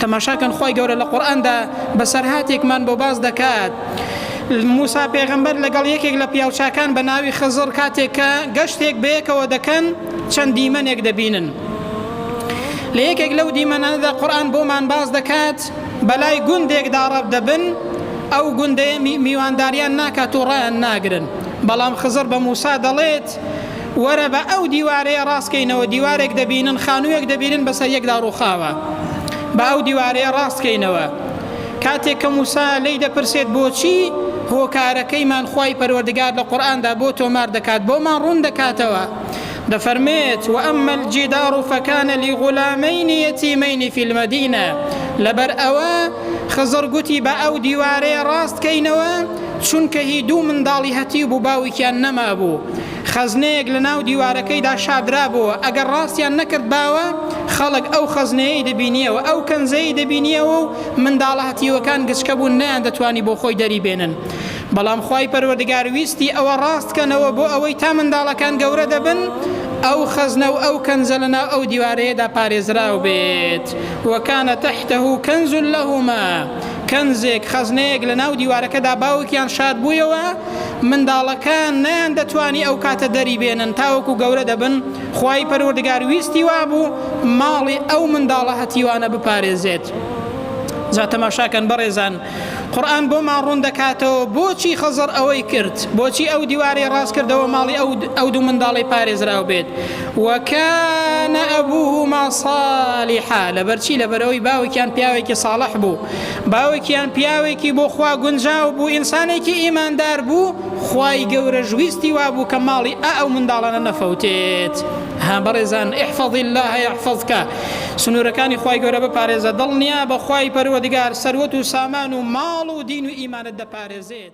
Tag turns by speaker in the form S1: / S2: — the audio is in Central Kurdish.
S1: تەماشا کەن خوای گەورە لە قورئاندا بەسەرهاتێکمان بۆ باس دەکات موسا پێغەمبەر لەگەڵ یەکێک لە پیاوچاکان بە ناوی خزڕ کاتێک کە گەشتێک بەیەکەوە دەکەن چەند دیمەنێک دەبینن لە یەکێک لەو دیمەنانەدا قورآن بۆمان باس دەکات بەلای گوندێکدا ڕەب دەبن ئەو گوندەیە میوانداریان ناکات و ڕایان ناگرن بەڵام خزر بە موسا دەڵێت وەرە با ئەو دیوارەیە ڕاست کەینەوە، دیوارێک دەبینن، خانووێک دەبینن بەسەر یەکدا ڕووخاوە. با ئەو دیوارەیە ڕاست کەینەوە. کاتێک کە موسا لێی دەپرسێت بۆچی هۆکارەکەیمان خوای پەروەردگار لە قورئاندا بۆ تۆمار دەکات، بۆمان ڕوون دەکاتەوە. دەفەرمێت، وأما الجدار فكان لغلامین یتیمین فی المدینە، لەبەر ئەوە خزڕ گوتی با ئەو دیوارەیە ڕاست کەینەوە، چونکە هی دوو منداڵی هەتیو بوو باوکیان نەمابوو. خەزنەیەک لە ناو دیوارەکەیدا شاردرابۆوە، ئەگەر ڕاستیان نەکردباوە، خەڵک ئەو خەزنەیەی دەبینییەوە، ئەو کەنزەی دەبینییەوە و منداڵە هەتیوەکان گچکە بوون نەیان دەتوانی بۆ خۆی دەری بێنن. بەڵام خوای پەروەردگار ویستی ئەوە ڕاست کەنەوە بۆ ئەوەی تا منداڵەکان گەورە دەبن ئەو خەزنە و ئەو کەنزە لە ناو ئەو دیوارەیەدا پارێزراو بێت. وکان تحتە کنز لهما، کەنزێک، خەزنەیەک، لە ناو دیوارەکەدا باوکیان شاردبوویەوە، منداڵەکان نەیان دەتوانی ئەو کاتە دەری بێنن تاوەکو گەورە دەبن خوای پەروەردگار ویستی وابوو ماڵی ئەو منداڵە هەتیوانە بپارێزێت جا تەماشاکەن بەڕێزان قورآن بۆمان ڕوون دەکاتەوە بۆچی خەزەر ئەوەی کرد بۆچی ئەو دیوارەی ڕاست کردەوە ماڵی ئەو ئەو دوو منداڵی پارێزراو بێت وەکانە ئەبووهما صالحا لەبەرچی لەبەرەوەی باوکیان پیاوێکی صالح بوو باوکیان پیاوێکی بۆ خوا گونجاو بوو ئینسانێکی ئیماندار بوو خوای گەورەش ویستی وابوو کە ماڵی ئە ئەو منداڵانە نەفەوتێت ها بەڕێزان احفظ الله يحفظك سنوورەکانی خوای گەورە بپارێزە دڵنیا بە خوای پەروەردگار سەروەت و سامان و ماڵ و دین و ئیمانت دەپارێزێت